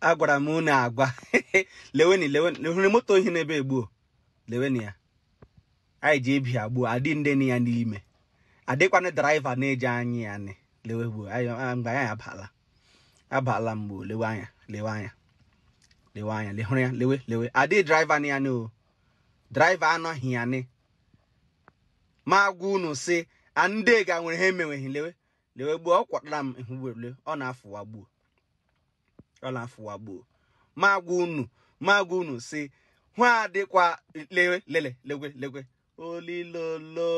agwara m unu agwa leweni leweni hụrụ moto ohi n'ebe gbuo leweni ya anyị ji ebi agbuo adị ndị nọ ya n'ime adịkwana driver na-eji anya ya nị lewe gbuo mgbe anyị abala abala mgbe lewe anya lewe anya lewe anya lehụrụ ya lewe lewe adị driver nọ ya nị o driver anọghị ya nị ma agwa unu si andị ga nwere ha emenweghị lewe lewe gbuo ọ kwatara m ihu werule ọ na-afụwa gbuo ọ na-afụwa gbuo ma gwa unu ma gwa unu si hụ adịkwa lewe lele legwe legwe olilolo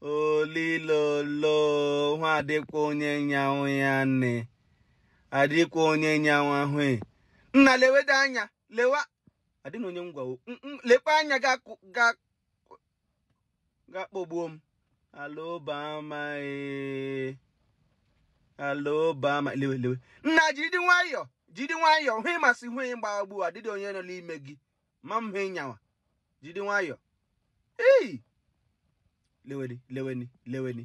olilolo hụ adịkwa onye nyawa ya nne adịkwa onye nyawa ahụ e. nna leweda anya lewa adịna onye m gwawo lekwa anya ga ga-akpọgbuo m alobama ee alobama lewe lewe nna jiri nwayọọ jiri nwayọọ hụ ị ma sị hụ ị gbaa gbuo adịdị onye nọ n'ime gị ma m hụ ị nyawa jiri nwayọọ ei leweni leweni leweni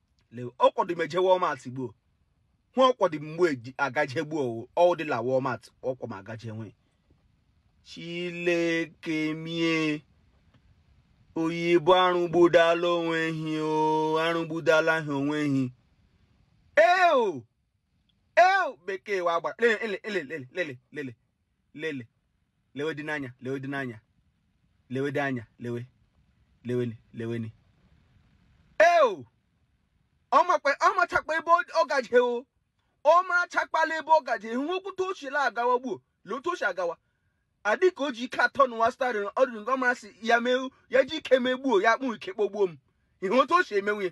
le ọ kwọdị m eje Walmart gbuo hụ ọ kwọdị mgbe eji agaje gbuo ọ wụdịla Walmart ọ kwọ m agaje nwe Chileke m ee oyibo arụgbudala onwe hi o arụgbudala ha onwe hi eo eo bekee wụ agbara lele lele lele lele lele lele lewe dị n'anya lewe dị n'anya lewe dị anya lewe leweni leweni eo ọ machakpa ebe ọ gaje o ọ marachakpala ebe ọ gaje hụ okwute ochila agawa gbuo lee otu o si agawa adị ka o ji ike atọnụwa steering ọ dị ka ọ mara sị ya mee ya ji ike megbuo ya akpụ ike kpogbuo m ihe otu o si emenwu ya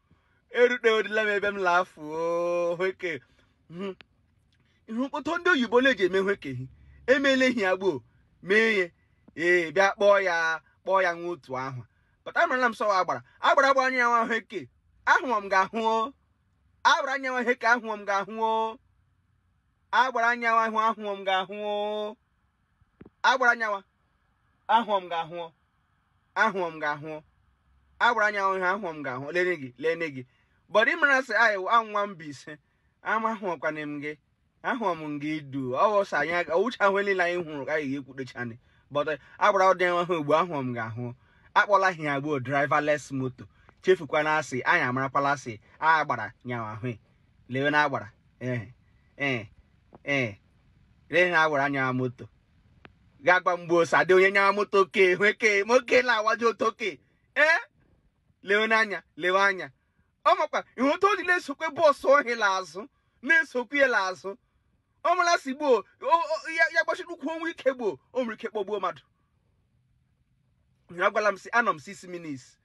erutedila m ebe m la-afụ hweke hmm. ihe mkpọtụ ndị oyibo na-eji eme hwekehi emela ihe a gbuo mee ihe ee bịa kpọọ ya kpọọ ya nwa otu ahụ pụta marala m sị ọ wụ agbara agbara agbara nyawa hweke ahụọ m ga-ahụ agbara nyawa hweke ahụọ m ga-ahụ agbara nyawa ahụ ahụọ m ga-ahụ agbara nyawa ahụọ m ga-ahụọ ahụọ m ga-ahụọ agbara nyawa ihe ahụọ m ga-ahụ lene gị lene gị but ị mara sị anyị wụ Mbaise ama ahụọkwana m gị ahụọ m gị du ọwụsa anyị ọwụcha ahụ niile anyị hụrụ ka anyị ga-ekwudechani but agbara nyawa ahụ gbuo ahụọ m ga-ahụ akpọla ihe ya gbuo driverless moto chefukwana sị anyị amarakwala sị agbara nyawa ahụ lewe na agbara ee ee ee ihe agbara nyawa moto ga-agwa mgbe osadị onye nyawa moto oke hụeke ma oke na-awaji otu oke ee lewe n'anya lewe anya ọ makwa ihe otu o ji la-esokwe bọọsụ ọhị azụ na-esokwu ya azụ ọ mara sị gbuo ya gbachiri ụkwụ o nwe ike gbuo o nwere ike kpọgbuo mmadụ ya gwala m sị anọ m six minutes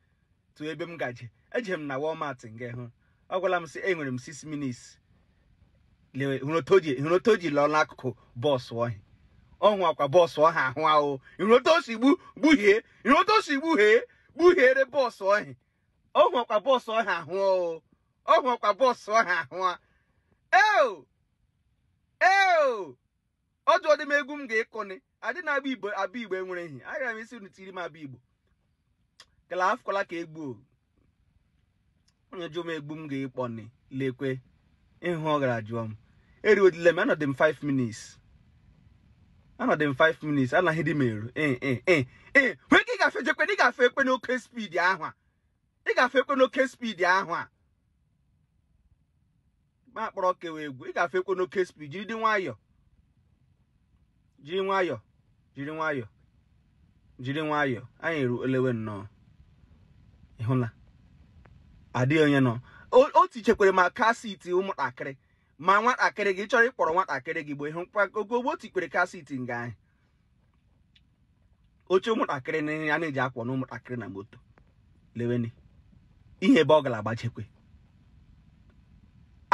to ebe m gaje eje m na Walmart nga ahụ ọ gwala m sị enwere m six minutes lewe hụrụ otu o ji hụrụ otu o ji lọọ n'akụkụ bọọsụ ọhị ọhụ ọ kwa bọọsụ ọha ahụ ahụ hụrụ otu o si gbu gbuhie hụrụ otu o si gbuhie gbuhiere bọọsụ ọhị ọhụ ọ kwa bọọsụ ọha ahụ o ọhụ ọ kwa bọọsụ ọha ahụ a eo eo ọ jụọdị m egwu m ga-ekọni adị na abụ igbo abụ igbo enwere ehi agara m ịsị unu tiri m abụ igbo kala afụkwala ka egbu o onye jụọ m egbu m ga-ekpọni lekwe ịhụ ọ gara jụọ m eriwedile m anọdị m 5 minutes anọdị m 5 minutes anaghị dị m eru ee ee ee ee nwee ka ị gafe jekwe na ị ga-efekwe n'oke speed ahụ a ị ga-efekwe n'oke speed ahụ a ma akpọrọ kewa egwu ị ga-efekwe n'oke speed jiri dị nwayọọ jiri nwayọọ jiri nwayọọ jiri nwayọọ anyị eru elewe nnọọ ị hụla adịghị onye nọ o tichekwere ma car seat ụmụntakịrị ma nwatakịrị gị chọrọ ịkpọrọ nwatakịrị gị bụ ịhụ ogogbo tikwere car seat nga ahụ oche ụmụntakịrị na a na-eji akwọ na ụmụntakịrị na moto leweni ihe ebe ọ gara agbachekwe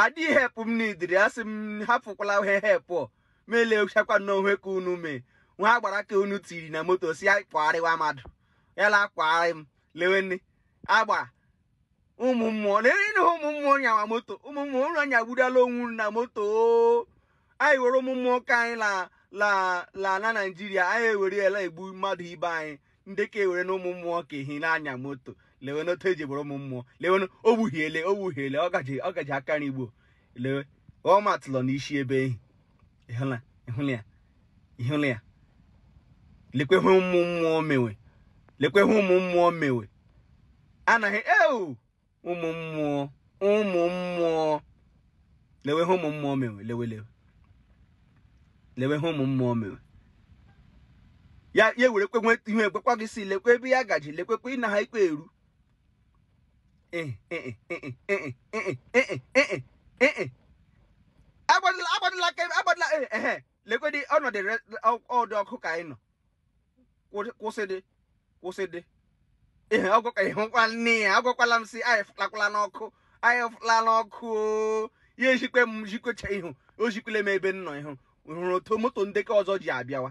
adị hepụ m n'idiri asị m hapụkwala ihe hepụ ma elechakwa n'onwe ka unu mee nwa agbara ka unu tiri na moto sị ya kwagharịwa mmadụ ya la-akwagharị m leweni agba ụmụ mmụọ na ihe ụmụ mmụọ nyawa moto ụmụ mmụọ ụlọ nyagbudala ọ wụrụ na moto anyị were ụmụ mmụọ ka anyị la la la na naijiria anyị ewere ya la-egbu mmadụ ibe anyị ndị ka ewere na ụmụ mmụọ ka ehi na-anya moto lewe n'otu e ji bụrụ ụmụ mmụọ lewe o gbuhiele o gbuhiele ọ gaji ọ gaji aka n'igbo lewe ọ matụlọ n'isi ebe ehi ị hụla ya ị hụla ya lekwe ihe ụmụ mmụọ mewe lekwe ihe ụmụ mmụọ mewe anaghị eu ụmụ mmụọ ụmụ mmụọ lewe ha ụmụ mmụọ mewe lewe lewe lewe ha ụmụ mmụọ mewe ya ya were kwe ihe ekwekwa gị sị lekwe ebe ya gaji lekwekwe ịna ha ikpe eru agbadịla aka agbadịla ehe lekwedị ọnọdụ ọdụ ọkụ ka anyị nọ kwụsịdị kwụsịdị ihe ọgwụka ihe nkwa nne ya agwakwala m si anyị fụlakwala n'ọkụ anyị fụla n'ọkụ ya ejikwe m jikwecha ihu o jikwele m ebe m nọ ihu hụrụ otu moto ndị ke ọzọ ji abịawa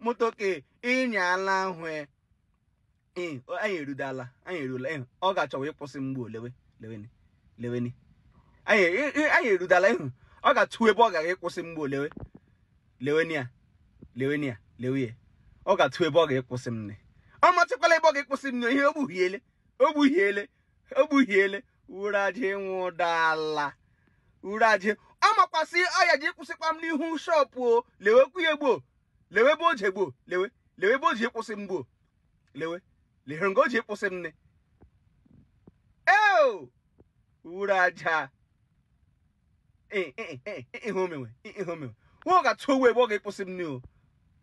moto ke ịnya ala ahụ e. ee anyị erudala anyị erula ịhụ ọ ga-achọwa ịkwụsị m gboo lewe leweni leweni anyị e- e- anyị erudala ịhụ ọ ga-atụ ebe ọ gara ịkwụsị m gboo lewe leweni ya leweni ya lewe ya ọ ga-atụ ebe ọ ga-ịkwụsị m nne ọ matụkwala ebe ọ ga-ịkwụsị m nne ihe ogbuhiele ogbuhiele ogbuhiele wụrụ aja ịnwụ dala uru aja ọ makwasị ọ ya ji kwụsịkwa m n'ihu shọpụ o lewekwu ya gboo lewe ebe o ji gboo lewe lewe ebe o ji kwụsị m gboo lewe lehere nga o ji kwụsị m nne eo uru aja ihe omenwe ihe omenwe nwa ọ ga-atụwa ebe ọ ga-ịkwụsị m nne o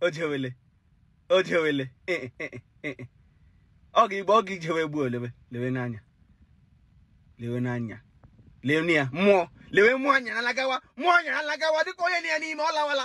o jewele o jewele ọ ga igbe ọ ga ijewe gboo lewe lewe n'anya lewe n'anya lewe ya mmụọ lewe mmụọ anya alagawa mmụọ anya alagawa dịka onye na ya n'ime ọ lawala